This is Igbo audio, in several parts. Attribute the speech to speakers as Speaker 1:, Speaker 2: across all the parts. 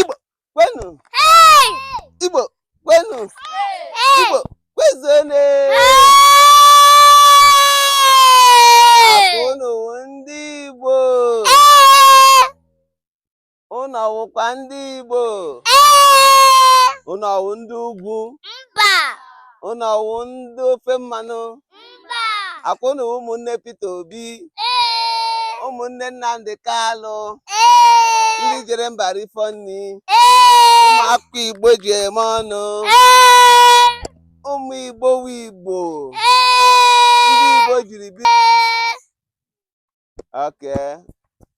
Speaker 1: Igbo kwenu Igbo kwenu Igbo kwezuonu unu wụ ndị Igbo unu ọ wụkwa ndị Igbo unu ọ wụ ndị ugwu
Speaker 2: unu
Speaker 1: ọ wụ ndị ofe mmanụ
Speaker 2: mba akwa
Speaker 1: unu ụmụnne Peter Obi ee ụmụnne Nnamdi Kalụ ee ndị jere mba rifọ nri ee ụmụaka Igbo ji eme ọnụ ee ụmụ Igbo wụ Igbo ee ndị Igbo jiri bi okay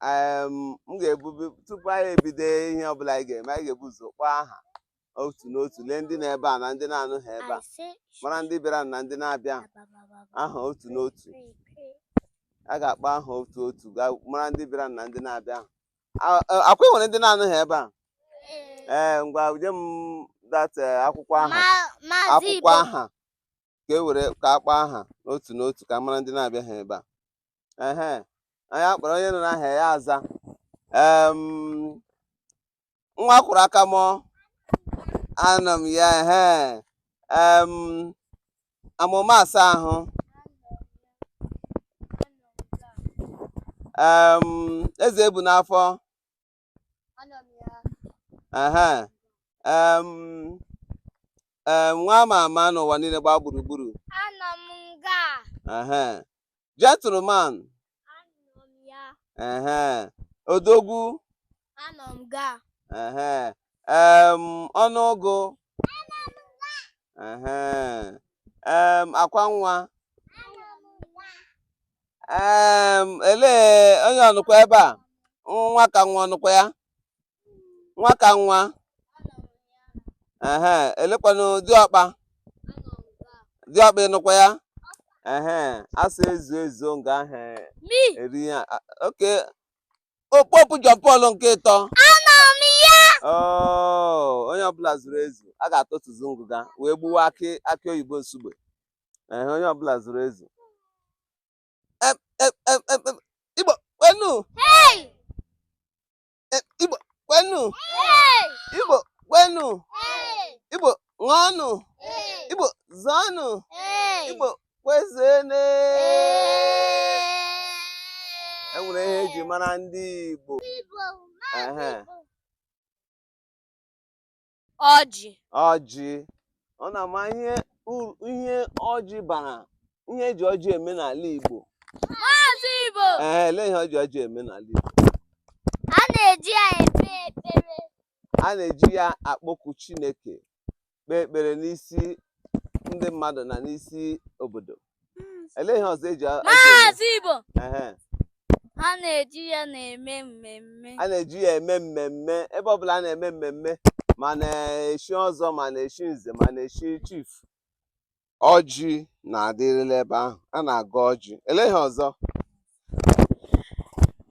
Speaker 1: em, m ga-ebu tupu anyị ebido ihe ọbụla anyị ga-eme anyị ga-ebu ụzọ kpọọ aha otu n'otu lee ndị nọ ebe a na ndị na-anọghị ebe a mara ndị bịara na ndị na-abịaha otu n'otu a ga-akpọ aha otu otu ka mara ndị bịara na ndị na-abịaha a- akwa e nwere ndị na-anọghị ebe a ee ngwa nye m that eh, akwụkwọ aha akwụkwọ aha ka e were ka akpọ aha otu n'otu ka mara ndị na-abịaghị ebe a ehe onye akpọrọ onye nụna aha ya aza em nwa akwọrọ aka mụọ anọ m ya ehe em amụma asa ahụ em eze ebu n'afọ nwa ama ama n'ụwa niile gbaa gburugburu gentleman odogwu ọnụ ụgụ akwa nwa elee onye ọ nọkwa ebe a nwa ka nwa ọ nọkwa ya nwa ka nwa ehe elekwanụ diọkpa diọkpa ị nọkwa ya ehe asa ezu ezu nga ahụ eri ya okay Pope John Paul nke ịtọ oh, onye ọbụla zuru ezu a ga-atụtụzi ngụga wee gbuwa akị akị oyibo nsugbe ehe onye ọbụla zuru ezu Em, em, em, em, em, igbo kwenu Hey! Em, igbo kwenu Hey! igbo kwenu Hey! igbo ṅụọnụ Hey! igbo zọọnụ Hey! igbo kwezuenu e nwere ihe eji mara ndị igbo Igbo, Ehe. Igbo. ọjị ọjị ọ na-ama ihe uru ihe ọjị bara ihe eji ọjị eme n'ala Igbo maazị Igbo ee elee ihe eji ọjị eme n'ala Igbo
Speaker 2: a na-eji ya ekpe ekpere a
Speaker 1: na-eji ya akpọku Chineke kpee ekpere n'isi ndị mmadụ na n'isi obodo elee ihe ọzọ eji maazị
Speaker 2: Igbo a na-eji ya na-eme mmemme a na-eji ya eme
Speaker 1: mmemme ebe ọbụla a na-eme mmemme ma a na-echi ọzọ ma a na-echi nze ma a na-echi chief ọjị na-adịrịla ebe ahụ a na-agọ ọjị elee ihe ọzọ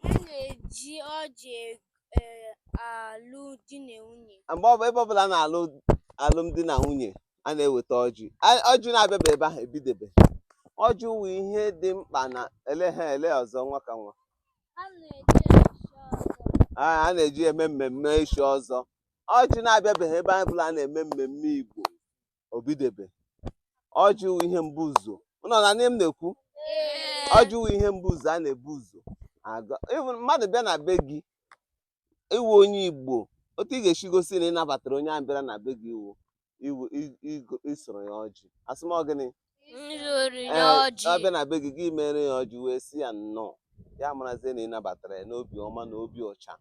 Speaker 2: A na-eji ọjị e- e- alụ di na nwunye. mgbe ọbụ ebe ọbụla a na-alụ
Speaker 1: alụmdi na nwunye a na-eweta ọjị A- ọjị na-abịabeghị ebe ahụ ebidebeghị ọjị wụ ihe dị mkpa na ele ha elee ọzọ nwa ka nwa A na-eji echi ọzọ. a a na-eji eme mmemme echi ọzọ ọjị na-abịabeghị ebe ọbụla a na-eme mmemme igbo o bidebeghị ọjị wụ ihe mbụ ụzọ ụnụ na-anụ ihe m na-ekwu ọjị wụ ihe mbụ ụzọ a na-ebu ụzọ aga even mmadụ bịa na be gị ị wụ onye igbo otu ị ga-esi gosi na ị nabatara onye ahụ bịara na be gị iwu iwu i- igo- isoro ya ọjị asị m ọ gịnị Nzụrụ Ee, ya ọ bịa ọjị. na be gị gị mere ya ọjị wee si ya nnọọ ya marazie na ị nabatara ya n'obi ọma na obi ọcha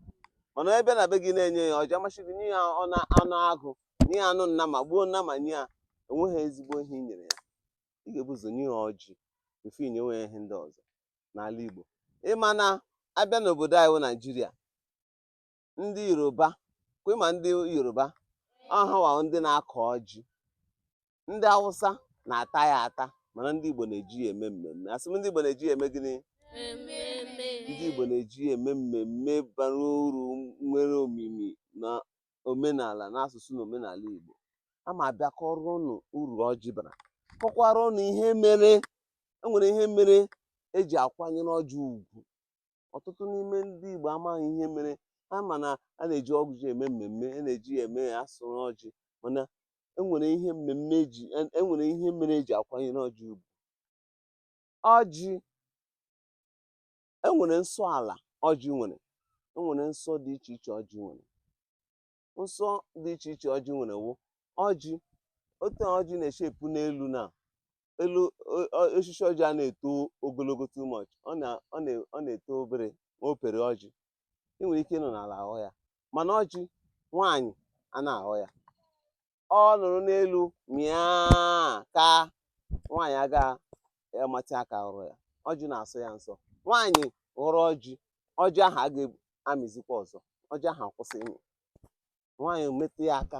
Speaker 1: mana onye bịa na be gị na-enyeghị ya ọjị ọ masị gị nye ya ọnụ anụ agụ nye ya anụ nnama gbuo nnama nye ya enweghị ezigbo ihe i nyere ya ị ga-ebu ụzọ nye ya ọjị tupu i nyewe ya ihe ndị ọzọ n'ala Igbo ị ma na a bịa n'obodo anyị wụ Naijiria ndị Yoruba kwa ị ma ndị Yoruba ọ ha wụ ndị na-akọ ọjị ndị Awụsa na-ata ya ata mana ndị Igbo na-eji ya eme mmemme asị m ndị Igbo na-eji ya eme gịnị ndị Igbo na-eji ya eme mmemme bara uru nwere omimi na omenala n'asụsụ na omenala Igbo aga m abịa kọọrọ ụnụ uru ọjị bara kọkwara ụnụ ihe mere enwere ihe mere eji akwanyere ọjị ugwu ọtụtụ n'ime ndị Igbo amaghị ihe mere ha ma na a na-eji ọjị eme mmemme a na-eji ya eme ya asụrụ ọjị mana enwere ihe mere eji enwere ihe mere eji akwanyere ọjị ugwu ọjị e nwere nsọ ala ọjị nwere e nwere nsọ dị iche iche ọjị nwere nsọ dị iche iche ọjị nwere wụ ọjị otu ọjị na-eshi epu n'elu na elu o- o- osisi ọjị anaghị eto ogologo too much ọ na- ọ na- ọ na-eto obere ma o pere ọjị ị nwere ike ịnọ n'ala aghọ ya mana ọjị nwaanyị anaghị aghọ ya ọ nọrọ n'elu mịa ka nwaanyị aga amatị aka ghọrọ ya ọjị na-asọ ya nsọ nwaanyị ghọrọ ọjị ọjị ahụ aga amịzikwa ọzọ ọjị ahụ akwụsị ịmị nwaanyị metụ ya aka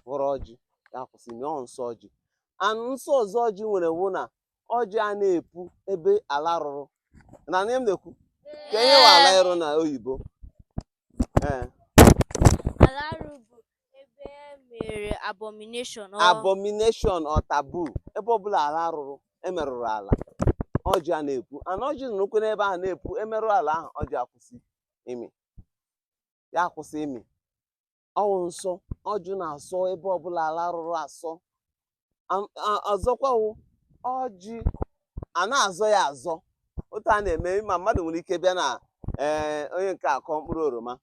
Speaker 1: ghọrọ ọjị ya akwụsị ịmị ọ nsọ ọjị anụ nsọ ọzọ ọjị nwere wụ na ọjị a na-epu ebe ala rụrụ na ihe m na-ekwu ka ihe wụ ala ịrụ na oyibo ee
Speaker 2: ala arụ bụ ebe e mere abomination
Speaker 1: ọ abomination or taboo ebe ọbụla ala rụrụ emerụrụ ala ọjị a na-epu ana ọjị nọrọkwa n'ebe ahụ na-epu emerụọ ala ahụ ọjị akwụsị ịmị ya akwụsị ịmị ọwụ nsọ ọjị na-asọ ebe ọbụla ala rụrụ asọ Am- a- ọzọkwa wụ ọjị a na-azọ ya azọ otu a na-eme ma mmadụ nwere ike bịa na ee onye nke a akụọ mkpụrụ oroma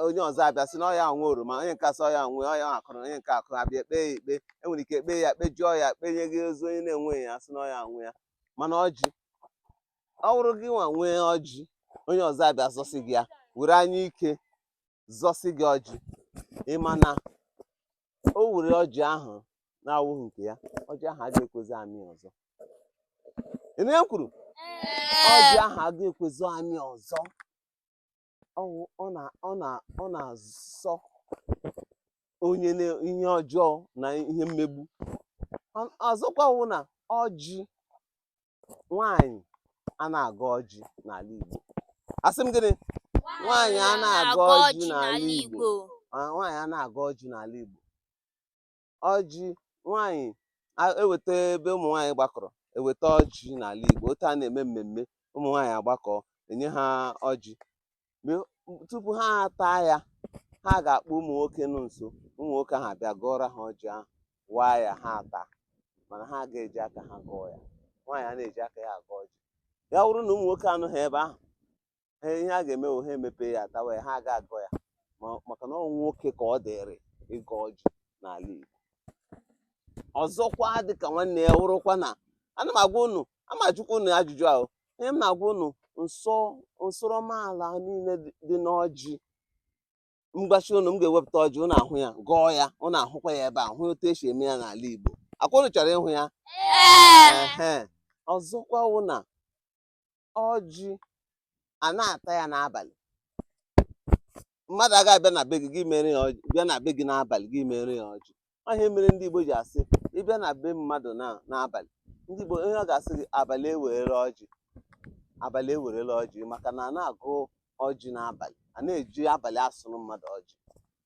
Speaker 1: onye ọzọ abịa sị na ọ ya nwe oroma onye nke a asị ọ ya nwe ọ ya kụrụ onye nke a kụrụ abịa ekpe ya ikpe enwere ike ekpe ya kpejọọ ya kpenye gị ọzọ onye na-enweghị ya sị na ọ ya nwe ya mana ọjị ọ wụrụ gị nwa nwee ọjị onye ọzọ abịa zọsị gị ya were anya ike zọsị gị ọjị ị ma na o were ọjị ahụ na-awụghị nke ya ọjị ahụ agaghị ekwezi amị ọzọ ị na kwuru ọjị ahụ agaghị ekwezi amị ọzọ ọwụ ọ na ọ na ọ na-asọ onye na ihe ọjọọ na ihe mmegbu Ọ- ọzọkwa wụ na ọjị nwaanyị a na-agọ ọjị n'ala Igbo asị m gịnị nwaanyị a na-agọ ọjị n'ala Igbo Ah, nwaanyị a na-agọ ọjị n'ala Igbo ọjị nwaanyị a- eweta ebe ụmụ nwaanyị gbakọrọ eweta ọjị n'ala Igbo otu a na-eme mmemme ụmụ nwaanyị agbakọ enye ha ọjị Mgbe- tupu ha ataa ya ha ga-akpọ ụmụ nwoke nọ nso ụmụ nwoke ahụ abịa gọọra ha ọjị ahụ waa ya ha ata mana ha aga eji aka ha gọọ ya nwaanyị a na-eji aka ya agọ ọjị ya wụrụ na ụmụ nwoke anọghị ebe ahụ ihe a ga-eme ha emepe ya atawa ya ha aga agọ ya maka na ọ nwoke ka ọ dịrị ịgọ ọjị n'ala Igbo ọzọkwa dịka nwanne ya wụrụkwa na ana m agwa unu a m ajụkwa unu ajụjụ ahụ ihe m na-agwa unu nsọ nsọrọmala niile dị n'ọjị m gwachaa unu m ga-ewepụta ọjị unu ahụ ya gọọ ya unu ahụkwa ya ebe a hụ otu esi eme ya n'ala Igbo ọkwa unu chọrọ ịhụ ya ọzọkwa wụ na ọjị anaghị ata ya n'abalị mmadụ agaghị abịa na be gị gị mere ya ọjị bịa na be gị n'abalị gị mere ya ọjị ihe mere ndị Igbo ji asị ị bịa na be mmadụ na n'abalị ndị Igbo ihe ọ ga-asị gị abalị ewerela ọjị abalị ewerela ọjị maka na anaghị agọ ọjị n'abalị anaghị eji abalị asụrụ mmadụ ọjị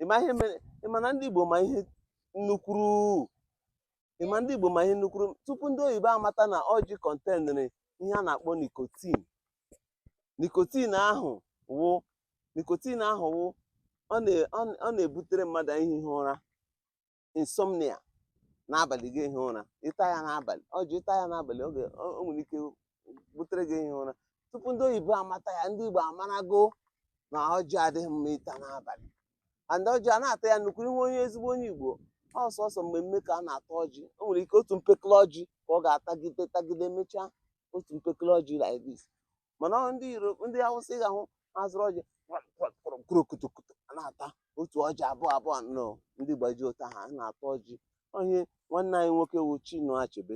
Speaker 1: ị ma ihe mere ị ma na ndị Igbo ma ihe nnukwuru ị ma ndị Igbo ma ihe nnukwuru tupu ndị oyibo amata na ọjị kọntenịrị ihe a na-akpọ nicotine nicotine ahụ wụ nicotine ahụ wụ ọ na-ebutere mmadụ ehighị ụra insomnia n'abalị gị ehighị ụra ị taa ya n'abalị ọjị ị taa ya n'abalị ọ ga o nwere ike butere gị ehighị ụra tupu ndị oyibo amata ya ndị Igbo amarago na ọjị adịghị mma ịta n'abalị and ọjị anaghị ata ya nnukwu ihe onye ezigbo onye Igbo ọ sọsọ mmemme ka a na-ata ọjị o nwere ike otu mpekele ọjị ka ọ ga-atagide tagide mechaa otu mpekele ọjị like this mana ọ ndị Yoruba ndị Awụsa ị ga-ahụ ha zụrụ ọjị kurokutokuto a na-ata otu ọjị abụọ abụọ nọ ndị Igbo ji ụta ha a na-ata ọjị ọ ihe nwanne anyị nwoke wụ Chinua Achebe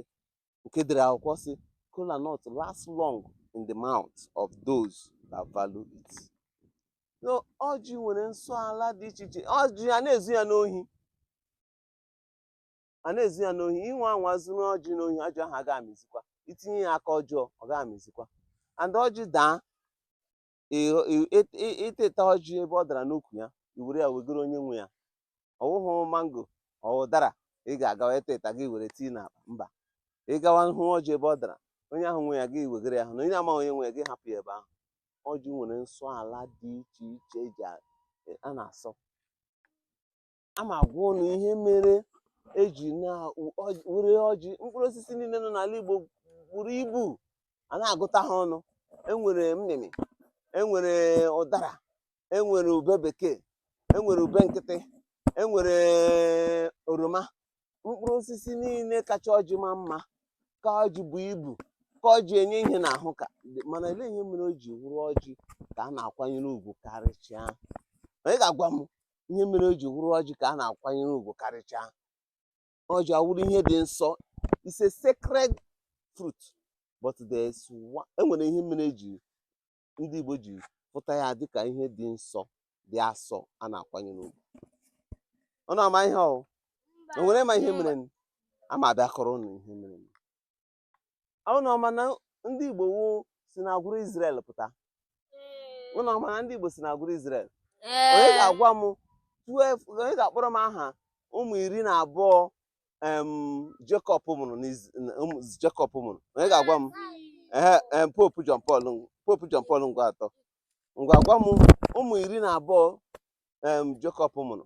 Speaker 1: nke dere akwụkwọ sị kola nut last long in the mouth of those that value it so ọjị nwere nsọ ala dị iche iche ọjị anaghị ezu ya n'ohi anaghị ezu ya n'ohi ị nwaa anwa zuru ọjị n'ohi ọjị ahụ agaghị amịzikwa i tinye ya aka ọjọọ ọ gaghị amịzikwa and ọjị daa ịghọ- ị- ị- ị- ị tụta ọjị ebe ọ dara n'ukwu ya i were ya wegoro onye nwe ya ọ wụghị mango ọ ụdara ị ga-agawa ịtụta gị were tii n'akpa mba ị gawa hụ ọjị ebe ọ dara onye ahụ nwe ya gị wegoro ya hụ na onye amaghị onye nwe ya gị hapụ ya ebe ahụ ọjị nwere nsọ ala dị iche iche eji a- a na-asọ aga m agwa ụnụ ihe mere eji na were ọjị mkpụrụ osisi niile nọ n'ala Igbo buru ibu anaghị agụta ha ọnụ enwere mmịmị enwere ụdara enwere ube bekee enwere ube nkịtị enwere oroma mkpụrụ osisi niile kacha ọjị maa mma ka ọjị buo ibu ka ọjị enye ihe n'ahụ ka mana olee ihe mere o ji wụrụ ọjị ka a na-akwanyere ugwu karịchaa onye ga-agwa m ihe mere o ji wụrụ ọjị ka a na-akwanyere ugwu karịchaa ọjị awụrụ ihe dị nsọ it's a sacred fruit but there's one enwere ihe mere eji ndị Igbo ji hụta ya dịka ihe dị nsọ dị asọ a na-akwanyere ugwu ụnụ ama ihe ọ wụ enwere ma ihe mere aga m abịa kọrọ ụnụ ihe mere ụnụ ọ ma na ndị Igbo wụ si na agwụrụ Izrel pụta ụnụ ọ ma na ndị Igbo si na agwụrụ Izrel onye ga-agwa m onye ga-akpọrọ m aha ụmụ iri na abụọ Jekọb mụrụ Jekọb mụrụ onye ga-agwa m ee popu John Paul popu John Paul ngwa atọ ngwa gwa m ụmụ iri na abụọ Jekọb mụrụ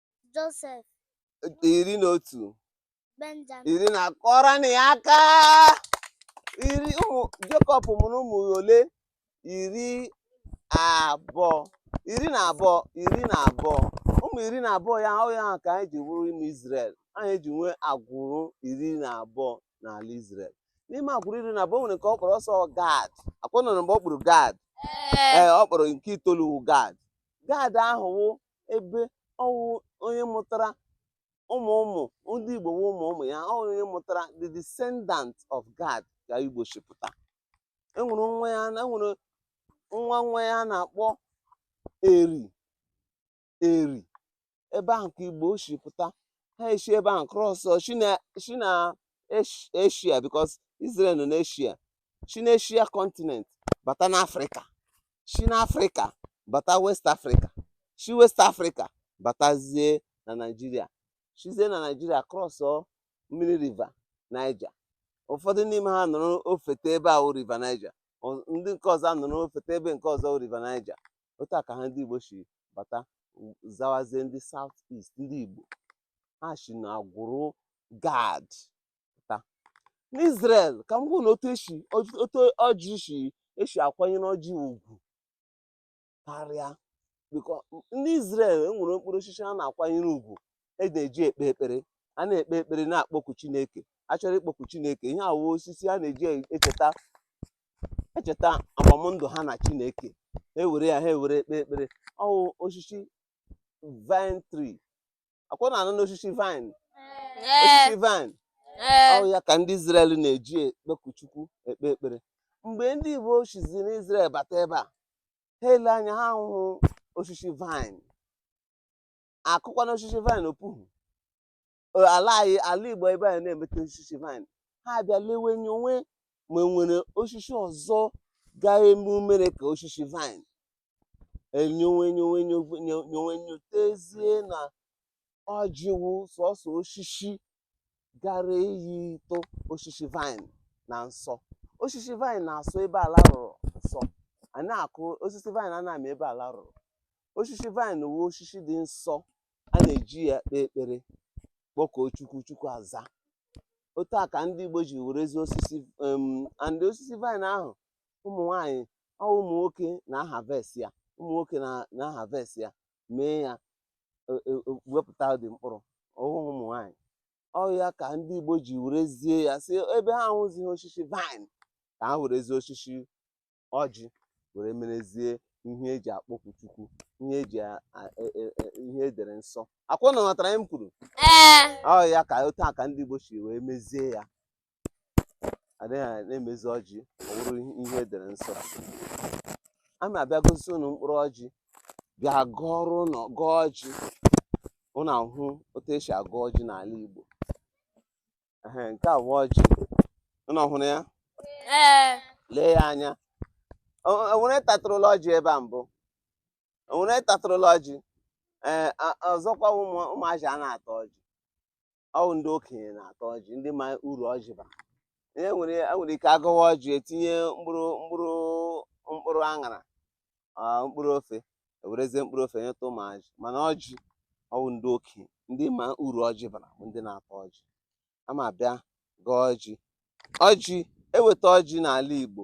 Speaker 2: Josef.
Speaker 1: Iri na otu.
Speaker 2: Benjamin. Iri na
Speaker 1: kụọrọnụ ya aka. Iri ụmụ Jekọb mụrụ ụmụ ole? Iri abụọ. Iri na abụọ. Iri na abụọ. Ụmụ iri na abụọ ya ọ ya ka anyị ji wụrụ ime Izrel. Anyị ji nwee agwụrụ iri na abụọ n'ala Izrel. N'ime agwụrụ iri na abụọ o nwere nke ọ kpọrọ ọsọ Gad. A kwa ụnụ nụrụ mgbe ọ kpọrọ Gad. Ee, ọ kpọrọ nke itoolu Gad. Gad ahụ wụ ebe ọ wụ onye mụtara ụmụ ụmụ ndị Igbo wụ ụmụ ụmụ ya ọ wụ onye mụtara the descendant of Gad ka Igbo shi pụta enwere nwa ya enwere nwa nwa ya a na-akpọ Eri Eri ebe ahụ ka Igbo shi pụta ha eshi ebe ahụ krọs shi na eshia bikos Israel nọ n'eshia shi n'eshia kọntinent bata n'afrịka shi n'afrịka bata west afrịka shi west afrịka batazie na naijiria shizie na naijiria krọsọ mmiri riva naija ụfọdụ n'ime ha nọrọ ofete ebe ahụ riva naija ọ- ndị nke ọzọ anọrọ ofete ebe nke ọzọ riva naija otu a ka ha ndị igbo shi bata u- zawazie ndị south east ndị igbo ha shi na agwụrụ gad pụta n'Izrel ka m gwa ụnụ otu esi otu ọjị si esi akwanyere ọjị ugwu karịa bikos ndị Izrel enwere mkpụrụ osisi a na-akwanyere ugwu a na-eji ekpe ekpere a na-ekpe ekpere na-akpọku Chineke a chọrọ ịkpọku Chineke ihe a wụ osisi a na-eji echeta echeta agbamndụ ha na Chineke ha ewere ya ha ewere ekpe ekpere ọ wụ osisi vine tree a kwa ụnụ anụna osisi vine osisi vine ọ ya ka ndị Izrel na-eji ekpeku Chukwu ekpe ekpere mgbe ndị Igbo shizi n'Izrel bata ebe a ha ele anya ha ahụhụ osisi vine a kụkwanụ osisi vine o puhu ala anyị ala Igbo ebe anyị na-emeta osisi vine ha abịa lewe anya onwe ma enwere osisi ọzọ ga-eme umere ka osisi vine enyowe enyowe enyowe enyowe nyotezie na ọjị wụ sọsọ osisi gara iyitụ osisi vine na nsọ osisi vine na-asọ ebe ala rụrụ nsọ a na-akụ osisi vine a na-amị ebe ala rụrụ osisi vine wụ osisi dị nsọ a na-eji ya ekpe ekpere kpọkuo chukwu chukwu aza otu a ka ndị igbo ji werezie osisi em, and osisi vine ahụ ụmụ nwaanyị ọ ụmụ nwoke na-aharvest ya ụmụ nwoke na-aharvest ya mee ya e, e, e, wepụta the mkpụrụ ọ wụhụ ụmụ nwaanyị ọ ya ka ndị Igbo ji werezie ya sị ebe ha ahụzighị osisi vine ka ha werezie osisi ọjị were merezie ihe eji akpọku Chukwu ihe eji ihe edere nsọ akwa ụnụ matara ihe m kwuru ọ ya ka otu a ka ndị Igbo si wee mezie ya adịghị na-emezi ọjị ọ wụrụ ihe edere nsọ a ma abịa gosi ụnụ mkpụrụ ọjị bịa gọọrọ ụnụ gọọ ọjị ụnụ ahụ otu esi agọ ọjị n'ala Igbo ehe nke a wụ ọjị ụnụ hụrụ ya ee lee ya anya O- o nwere tatụrụla ọjị ebe a mbụ o nwere tatụrụla ọjị ee a- ọzọkwa ụmụ ụmụazị a na-ata ọjị ọ wụ ndị okenye na-ata ọjị ndị ma uru ọjị bara e nwere e nwere ike agọwa ọjị etinye mkpụrụ mkpụrụ mkpụrụ aṅara ah, mkpụrụ ofe ewerezie mkpụrụ ofe nyeta ụmụazị mana ọjị ọ wụ ndị okenye ndị ma uru ọjị bara bụ ndị na-ata ọjị a ma abịa gọọ ọjị ọjị eweta ọjị n'ala Igbo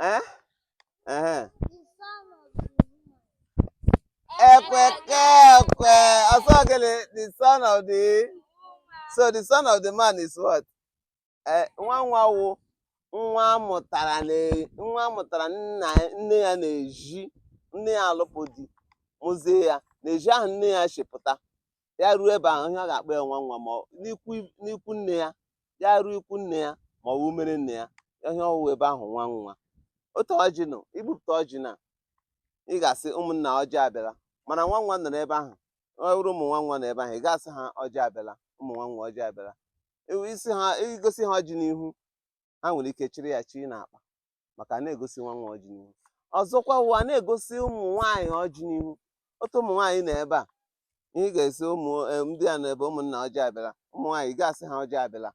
Speaker 1: Eh? Uh-huh. Ekweke ekwe. Asọgele, the son of the so the son of the man is what? Eh, nwa nwa wụ nwa amụtara na nwa amụtara nna nne ya n'ezi nne ya alụpụ di mụzie ya n'ezi ahụ nne ya si pụta ya ruo ebe ahụ ihe a ga-akpọ ya nwa nwa ma n'ikwu nne ya ya ruo ikwu nne ya ma ọ wụ umere nne ya ihe ọ wụwa ebe ahụ nwa nwa otu ọjị nọ i bupụta ọjị na ị ga-asị ụmụnna ọjị abịala mana nwa nwa nọrọ ebe ahụ ọ wụrụ ụmụ nwa nwa nọ ebe ahụ ị ga-asị ha ọjị abịala ụmụ nwa nwa ọjị abịala ị sị ha i gosi ha ọjị n'ihu ha nwere ike chịrị ya chii n'akpa maka a na-egosi nwa nwa ọjị n'ihu ọzọkwa wụ a na-egosi ụmụ nwaanyị ọjị n'ihu otu ụmụ nwaanyị nọ ebe a ihe ị ga-asị ụmụ eh, ndị a nọ ebe ụmụnna ọjị abịala ụmụ nwaanyị ị ga-asị ha ọjị abịala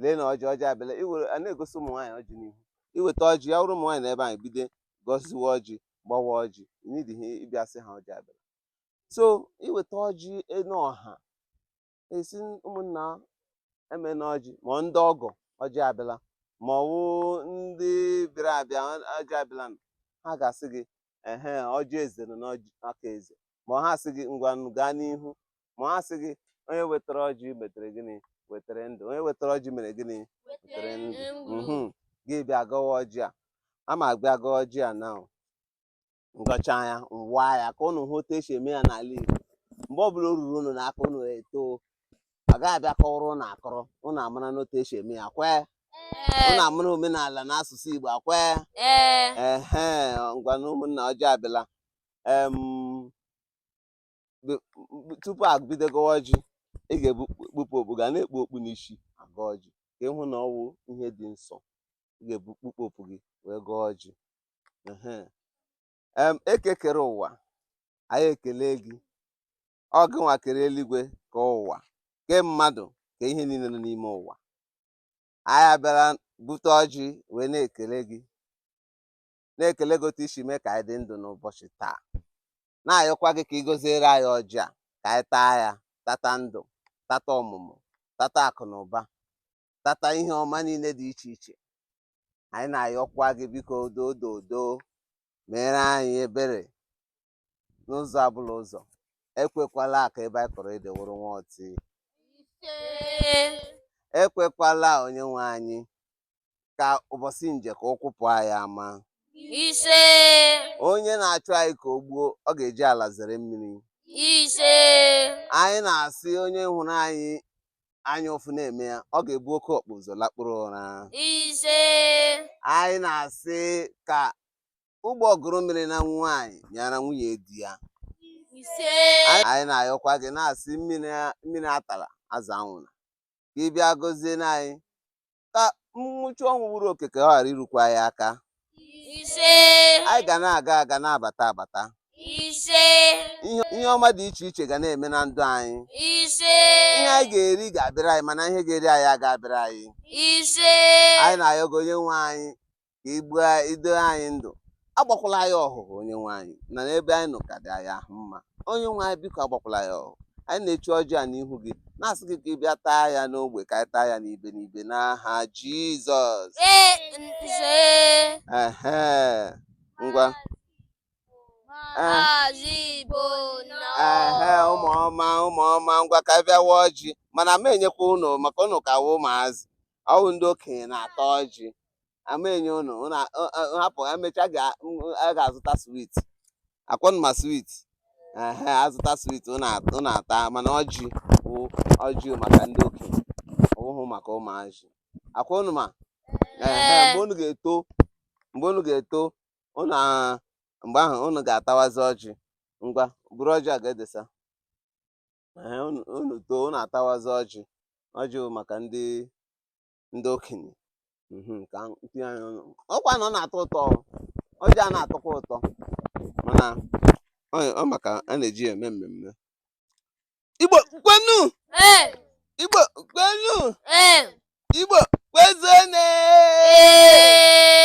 Speaker 1: lee na ọjị ọjị abịala iwere a na-egosi ụmụ nwaanyị ọjị n'ihu i weta ọjị ya wụrụ ụmụ nwaanyị n'ebe ahụ bido gọziwe ọjị gbawa ọjị n'ihi ị bịa sị ha ọjị abịala so i weta ọjị n'ọha esi ụmụnna eme na ọjị ma ndị ọgọ ọjị abịala ma ọ wụ ndị bịara abịa ọjị abịala ha ga-asị gị ehe ọjị eze nọ n'aka eze ma ha sị gị ngwa gaa n'ihu ma ha sị gị onye wetara ọjị metere gịnị wetara ndụ onye wetara ọjị mere gịnị wetara ndụ gị abịa gọwa ọjị a ama abịa gọọ ọjị a na m gọcha ya m waa ya ka ụnụ hụ otu esi eme ya n'ala Igbo mgbe ọbụla o ruru ụnụ n'aka ụnụ too a gaghị abịa kọwara ụnụ akọrọ ụnụ amarana otu esi eme ya kwee ụnụ amara omenala na asụsụ Igbo akwee ehe ngwanụ ụmụnna ọjị abịala tupu ebido gọwa ọjị ị ga-ekpupụ okpu gị anaghị ekpu okpu n'isi agọ ọjị ka ị hụ na ọ wụ ihe dị nsọ ị ga-ekpupụ okpu gị wee gọọ ọjị eke kere ụwa anyị ekele gị ọ gị nwa kere eluigwe kee ụwa kee mmadụ kee ihe niile nọ n'ime ụwa anyị bịara bute ọjị wee na-ekele gị na-ekele gị otu i si mee ka anyị dị ndụ n'ụbọchị taa na-ayọkwa gị ka ị gọziere anyị ọjị a ka anyị taa ya tata ndụ tata ọmụmụ tata akụ na ụba tata ihe ọma niile dị iche iche anyị na-ayọkwa gị biko dododo meere anyị ebere n'ụzọ abụla ụzọ ekwekwala ka ebe anyị kọrọ ede wụrụ nwa ọtị ekwekwala onye nwe anyị ka ụbọchị njọ ka ụkwụ pụọ anyị ama ise onye na-achụ anyị ka o gbuo ọ ga-eji ala zere mmiri ise anyị na-asị onye hụrụ anyị anya ụfụ na-eme ya ọ ga-ebu oke ọkpa ụzọ lakpuru ụra ise anyị na-asị ka ụgbọgụrụ mịara nwaanyị mịara nwunye di ya ise anyị na-ayọkwa gị na-asị mmiri mmiri atala azụ anwụla ka ị bịa gọzie anyị ka nwụchi ọnwụ gburu oke ka ọ ghara irukwa anyị aka ise anyị ga na-aga aga na-abata abata ise ihe ihe ọma dị iche iche ga na-eme na ndụ anyị ise ihe anyị ga-eri ga-abịara anyị mana ihe ga-eri anyị aga abịara anyị ise anyị na-ayọ gị onye nwe anyị ka ị gbaa ido anyị ndụ agbakwala anyị ọhụhụ onye nwe anyị na n'ebe anyị nọ ka dị anyị ahụ mma onye nwe anyị biko agbakwala anyị ọhụhụ anyị na-eche ọjị a n'ihu gị na-asị gị ka ị bịa taa ya n'ogbe ka anyị taa ya n'ibe n'ibe n'aha jizọs ehe ngwa ehe ụmụ ọma ụmụ ọma ngwa ka anyị bịa waa ọjị mana ama m enyekwa ụnụ maka ụnụ ka wụ ụmụazị ọwụ ndị okenye na-ata ọjị ama enye ụnụ ụnụ a- ọ- ọ- hapụ emechaa ga- m- a ga-azụta swit akwa ụnụ ma swit ehe azụta swit ụnụ at- ụnụ ata mana ọjị bụ ọjị maka ndị okenye ọwụhụ maka ụmụazị akwa ụnụ ma ehe mgbe ụnụ ga-eto mgbe ụnụ ga-eto ụnụ a- mgbe ahụ ụnụ ga-atawazi ọjị ngwa buru ọjị a ga-edesa Ee, unu unu too unu atawazi ọjị ọjị bụ maka ndị ndị okenye Mhm, ka m tinye ya n'ọnụ. ọkwa na ọ na-atọ ụtọ o. ọjị a na-atọkwa ụtọ mana ọ ọ maka a na-eji ya eme mmemme igbo kwenu Ee, igbo kwenu ee, igbo kwezuonu ee.